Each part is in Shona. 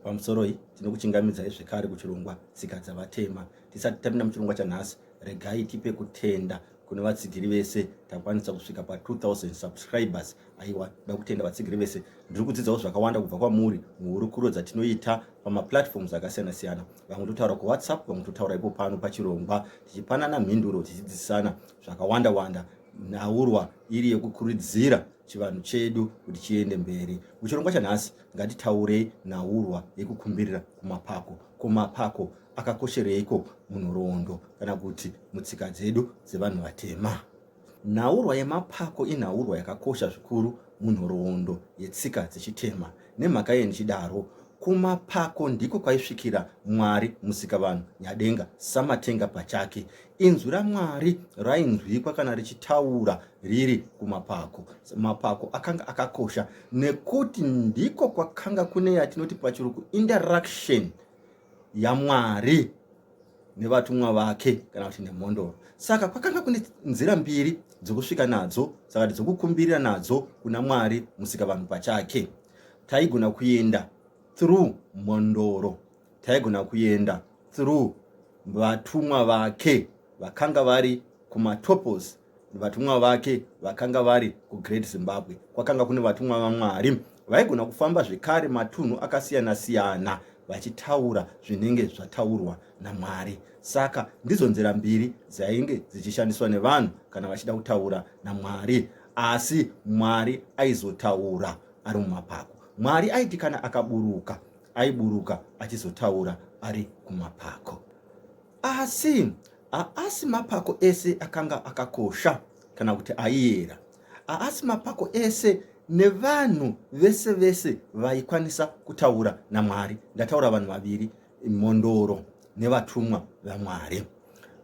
Pamusoroi, tinokuchingamidzai zvekare kuchirongwa Tsika Dzavatema. Tisati tapinda muchirongwa chanhasi, regai tipe kutenda kune vatsigiri vese takwanisa kusvika pa 2000 subscribers aiwa ndoda kutenda vatsigiri vese ndiri kudzidzawo zvakawanda kubva kwamuri muhurukuro dzatinoita pamaplatforms akasiyana siyana vamwe totaura kuwhatsapp vamwe totaura ipo pano pachirongwa tichipanana mhinduro tichidzidzisana zvakawanda wanda nhaurwa iri yekukuridzira chivanhu chedu kuti chiende mberi muchirongwa chanhasi Ngatitaurei nhaurwa yekukumbirira kumapako. Ko mapako akakoshereiko munhoroondo kana kuti mutsika dzedu dzevanhu vatema? Nhaurwa yemapako inhaurwa yakakosha zvikuru munhoroondo yetsika dzechitema. Nemhaka yei ndichidaro? Kumapako ndiko kwaisvikira Mwari Musikavanhu Nyadenga Samatenga pachake. Inzwi raMwari rainzwikwa kana richitaura riri kumapako. Mapako akanga akakosha nekuti ndiko kwakanga kune yatinoti pachiruku interaction yaMwari nevatumwa vake kana kuti nemhondoro. Saka kwakanga kune nzira mbiri dzokusvika nadzo, saka dzokukumbirira nadzo kuna Mwari musika vanhu pachake. Taigona kuenda through mhondoro. taigona kuenda through vatumwa vake vakanga vari kumatopos vatumwa vake vakanga vari kugreat zimbabwe kwakanga kune vatumwa vamwari vaigona kufamba zvekare matunhu akasiyana siyana vachitaura zvinenge zvataurwa namwari saka ndidzo nzira mbiri dzainge dzichishandiswa nevanhu kana vachida kutaura namwari asi mwari aizotaura ari mumapako mwari aiti kana akaburuka aiburuka achizotaura ari kumapako. Asi haasi mapako ese akanga akakosha kana kuti aiyera. Haasi mapako ese nevanhu vese vese vaikwanisa kutaura naMwari. Ndataura vanhu vaviri, mhondoro nevatumwa vaMwari.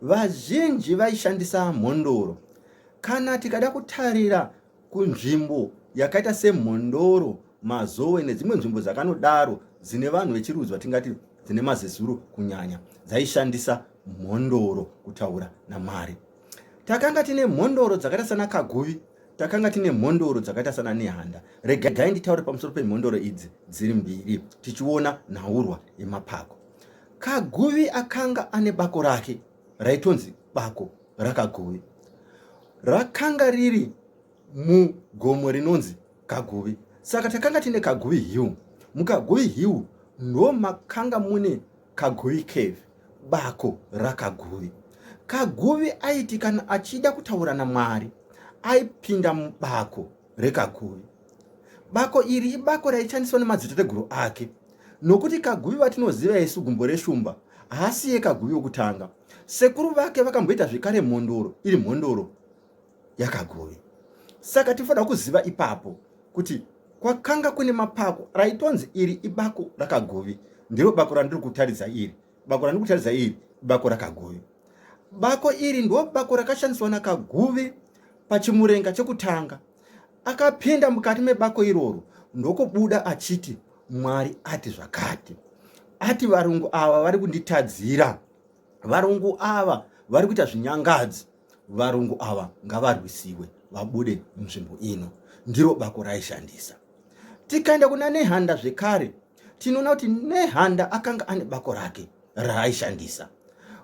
Vazhinji vaishandisa mhondoro. Kana tikada kutarira kunzvimbo yakaita semhondoro mazowe nedzimwe nzvimbo dzakanodaro dzine vanhu vechirudzi vatingati dzine mazezuro kunyanya dzaishandisa mhondoro kutaura namwari takanga tine mhondoro dzakaita sana kaguvi takanga tine mhondoro dzakaita sana nehanda regai nditaure pamusoro pemhondoro idzi dziri mbiri tichiona nhaurwa yemapako kaguvi akanga ane bako rake raitonzi bako raKaguvi. Rakanga riri mugomo rinonzi Kaguvi. Saka takanga tine Kaguvi Hill. MuKaguvi Hill ndo makanga mune Kaguvi Cave, bako raKaguvi. Kaguvi aiti kana achida kutaura naMwari aipinda mubako reKaguvi. Bako iri ibako raishandiswa nemadzitateguru ake nokuti Kaguvi vatinoziva isu gumbo reshumba haasiye Kaguvi wokutanga. Sekuru vake vakamboita zvekare mhondoro iri mhondoro yakagove. Saka tinofanira kuziva ipapo kuti kwakanga kune mapako raitonzi iri ibako rakagove, ndiro bako randiri kutaridza iri. Bako randiri kutaridza iri bako rakagove. Bako iri ndo bako rakashandiswa nakagove pachimurenga chekutanga. Akapinda mukati mebako iroro ndokubuda achiti Mwari ati zvakati, ati varungu ava vari kunditadzira, varungu ava vari kuita zvinyangadzi, varungu ava ngavarwisiwe vabude munzvimbo ino. Ndiro bako raishandisa. Tikaenda kuna Nehanda zvekare, tinoona kuti Nehanda akanga ane bako rake raaishandisa.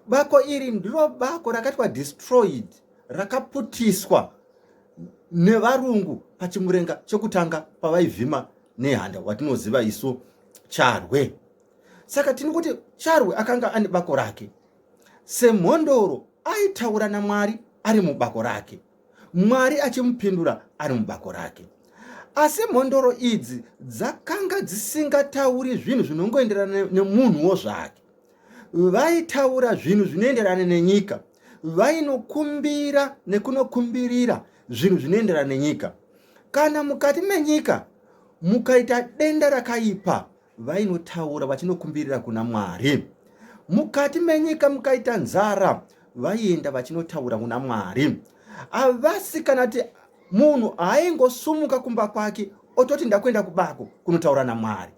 Bako iri ndiro bako rakatwa destroyed, rakaputiswa nevarungu pachimurenga chekutanga pavaivhima nehanda watinoziva isu charwe saka tini kuti charwe akanga ane bako rake semhondoro aitaura namwari ari mubako rake mwari achimupindura ari mubako rake asi mhondoro idzi dzakanga dzisingatauri zvinhu zvinongoenderana nemunhuwo zvake vaitaura zvinhu zvinoenderana nenyika vainokumbira nekunokumbirira zvinhu zvinoenderana nenyika kana mukati menyika mukaita denda rakaipa vainotaura vachinokumbirira kuna mwari mukati menyika mukaita nzara vaienda vachinotaura kuna mwari havasi kana ti munhu aingosumuka kumba kwake ototi ndakuenda kubako kunotaura namwari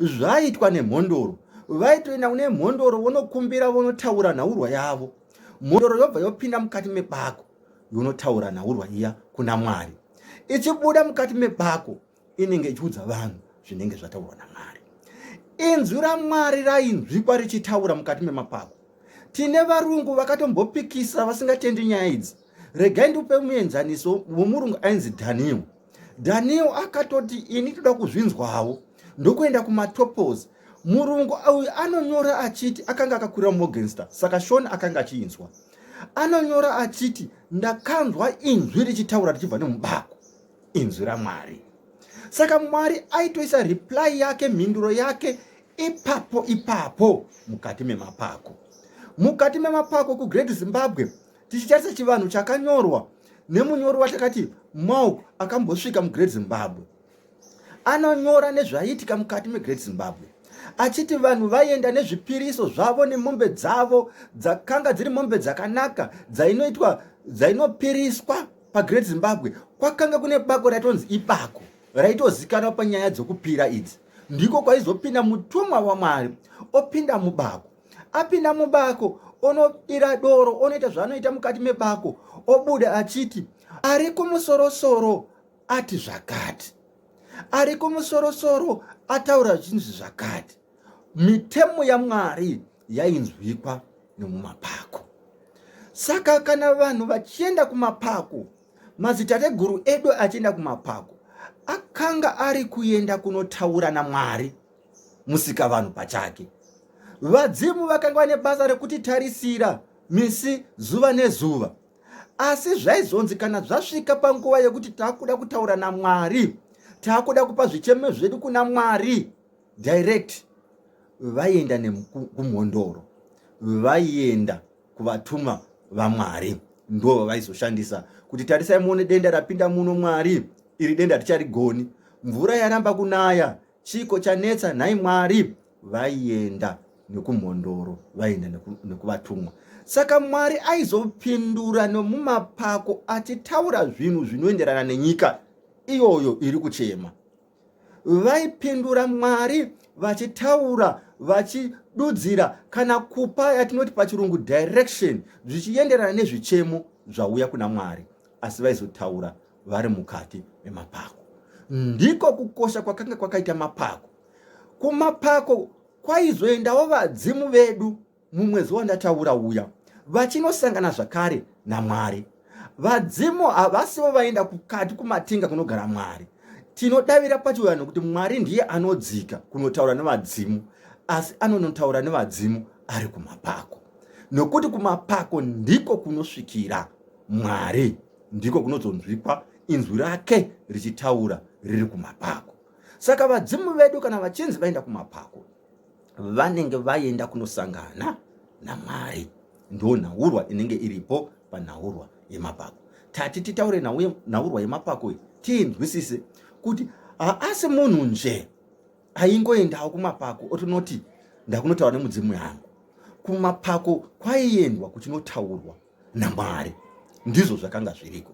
zvaiitwa nemhondoro vaitoenda kune mhondoro vonokumbira vonotaura nhaurwa yavo mhondoro yobva yopinda mukati mebako yonotaura nhaurwa iya kuna mwari ichibuda mukati mebako inenge ichiudza vanhu zvinenge zvataurwa namwari inzwi ramwari rainzwikwa richitaura mukati memapako tine varungu vakatombopikisa vasingatendi nyaya idzi regai ndiupe muenzaniso womurungu ainzi daniel daniel akatoti ini toda kuzvinzwawo ndokuenda kumatopos murungu uyu anonyora achiti akanga akakwira morgenster saka shon akanga achiinzwa anonyora achiti ndakanzwa inzwi richitaura richibva nemubako inzwi ramwari saka mwari aitoisa reply yake mhinduro yake ipapo ipapo mukati memapako mukati memapako kugrade zimbabwe tichitarisa chivanhu chakanyorwa nemunyori watakati mauk akambosvika mugreat zimbabwe anonyora nezvaiitika mukati megreat zimbabwe achiti vanhu vaienda nezvipiriso zvavo nemombe dzavo dzakanga dziri mombe dzakanaka dzainoitwa dzainopiriswa pagreat zimbabwe kwakanga kune bako raitonzi ibako raitozikanwa panyaya dzokupira idzi ndiko kwaizopinda mutumwa wamwari opinda mubako apinda mubako onobira doro onoita zvaanoita mukati mebako obuda achiti ari kumusorosoro ati zvakati ari kumusorosoro ataura zvichinzi zvakati mitemo yamwari yainzwikwa nomumapako saka kana vanhu vachienda kumapako madzitateguru edu achienda kumapako akanga ari kuenda kunotaura namwari musika vanhu pachake vadzimu vakanga vane basa rekuti tarisira misi zuva nezuva asi zvaizonzi kana zvasvika panguva yekuti taakuda kutaura namwari taakuda kupa zvichemo zvedu kuna mwari direct vaienda kumhondoro vaienda kuvatuma vamwari ndo vavaizoshandisa kuti tarisai muone denda rapinda muno mwari iri denda richarigoni mvura yaramba kunaya Chiiko chanetsa nhai Mwari? Vaienda nekumhondoro, vaienda nekuvatumwa. Saka Mwari aizopindura nomumapako achitaura zvinhu zvinoenderana nenyika iyoyo iri kuchema. Vaipindura Mwari vachitaura vachidudzira kana kupa yatinoti pachirungu direction zvichienderana nezvichemo zvauya kuna Mwari, asi vaizotaura vari mukati memapako. Ndiko kukosha kwakanga kwakaita mapako. Kumapako kwaizoendawo vadzimu vedu mumwedzi wandataura uya vachinosangana zvakare namwari. Vadzimu havasivo vaenda kukati kumatinga kunogara mwari. Tinodavira pachivanhu kuti mwari ndiye anodzika kunotaura nevadzimu, asi anonotaura nevadzimu ari kumapako, nokuti kumapako ndiko kunosvikira mwari. ndiko kunozonzwikwa inzwi rake richitaura riri kumapako saka vadzimu vedu kana vachinzi vaenda kumapako vanenge vaenda kunosangana namwari ndo nhaurwa inenge iripo panhaurwa yemapako tati titaure nhaurwa yemapako iyi tiinzwisise kuti haasi munhu nje aingoendawo kumapako otinoti ndakunotaura nemudzimu yangu kumapako kwaiendwa kuchinotaurwa naMwari. Ndizvo zvakanga zviriko.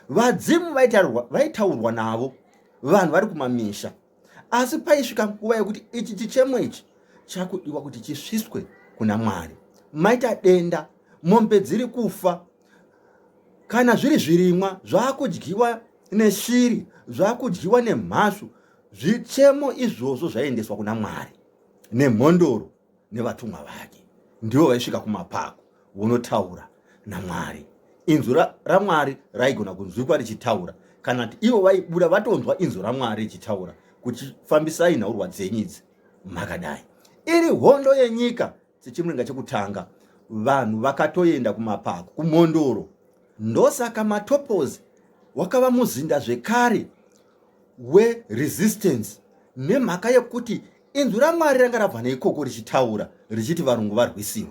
Vadzimu vaitaurwa navo vanhu vari kumamisha, asi paisvika nguva yekuti ichi chichemo ichi chakudiwa kuti chisviswe kuna Mwari. Maita denda, mombe dziri kufa, kana zviri zvirimwa zvakudyiwa neshiri, zvakudyiwa nemhashu, zvichemo izvozvo zvaiendeswa kuna Mwari nemhondoro. nevatumwa vake ndivo vaisvika kumapako vonotaura namwari inzwi ramwari raigona kunzwikwa richitaura kana kuti ivo vaibuda vatonzwa inzwi ramwari richitaura kuti fambisai nhaurwa dzenyu idzi makadai iri hondo yenyika sechimuringa chekutanga vanhu vakatoenda kumapako kumhondoro ndosaka matopozi wakava muzinda zvekare weresistance nemhaka yekuti Inzwi raMwari ranga rabva neikoko richitaura richiti varungu varwisiwe.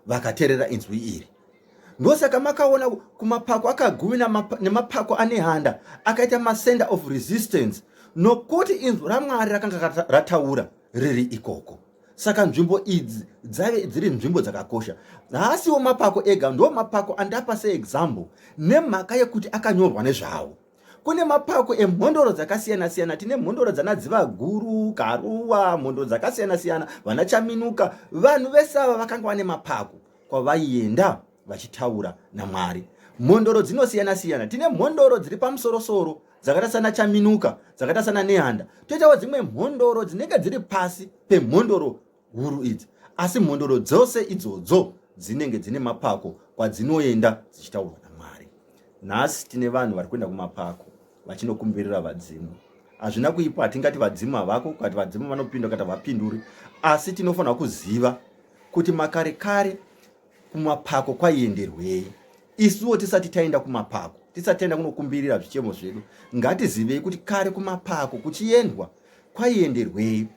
Vakaterera inzwi iri. Ndosaka makaona kumapako akaguvi nemapako anehanda akaita masender of resistance nokuti inzwi raMwari rakanga rataura riri ikoko. Saka nzvimbo idzi dzave dziri nzvimbo dzakakosha. Haasiwo mapako ega, ndo mapako andapa seexample nemhaka yekuti akanyorwa nezvawo. kune mapako emhondoro dzakasiyana siyana tine mhondoro dzana dzivaguru karuwa mhondoro dzakasiyana siyana vana chaminuka vanhu vese ava vakanga vane mapako kwavaienda vachitaura namwari mhondoro dzinosiyana siyana tine mhondoro dziri pamusorosoro dzakaita sana chaminuka dzakaita sana nehanda toitawo dzimwe mhondoro dzinenge dziri pasi pemhondoro huru idzi asi mhondoro dzose idzodzo dzinenge dzine mapako kwadzinoenda dzichitaurwa namwari nhasi tine vanhu vari kuenda kumapako vachinokumbirira vadzimu hazvina kuipa hatingati vadzimu havako kati vadzimu vanopinda kati havapinduri asi tinofanira kuziva kuti makare kare kumapako kwaienderwei isuwo tisati taenda kumapako tisati taenda kunokumbirira zvichemo zvedu ngatizivei kuti kare kumapako kuchiendwa kwaienderwei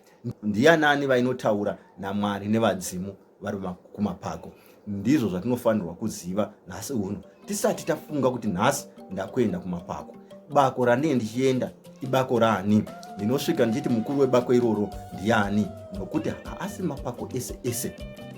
ndiyanani vainotaura namwari nevadzimu vari kumapako ndizvo zvatinofanirwa kuziva nhasi uno tisati tafunga kuti nhasi ndakuenda kumapako bako randinge ndichienda ibako raani ndinosvika ndichiti mukuru webako iroro ndiani nokuti haasi mapako ese ese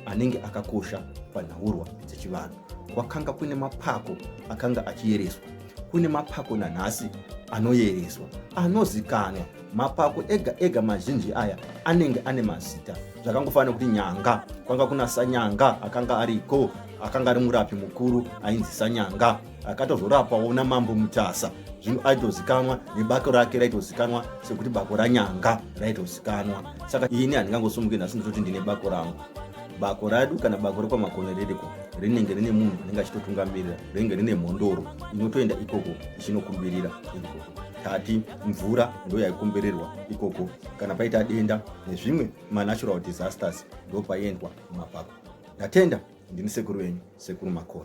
anenge akakosha panhaurwa dzechivanhu kwakanga kune mapako akanga achiyereswa kune mapako nanhasi anoyereswa anozikanwa mapako ega ega mazhinji aya anenge ane mazita zvakangofanira kuti nyanga kwanga kuna sanyanga akanga ariko akanga ari murapi mukuru ainzi sanyanga akatozorapawo namambo mutasa zvino aitozikanwa nebako rake raitozikanwa sekuti bako ranyanga raitozikanwa saka ini handingangosumuke nhasi nditoti ndine bako rangu bako radu kana bako rekwamakono ririko rinenge rine munhu anenge achitotungamirira rinenge rine mhondoro inotoenda ikoko ichinokumbirira ikoko tati mvura ndo yaikombererwa ikoko kana paita denda nezvimwe manatural disasters ndo paiendwa mumapako. Ndatenda ndini sekuru wenyu sekuru Makoni.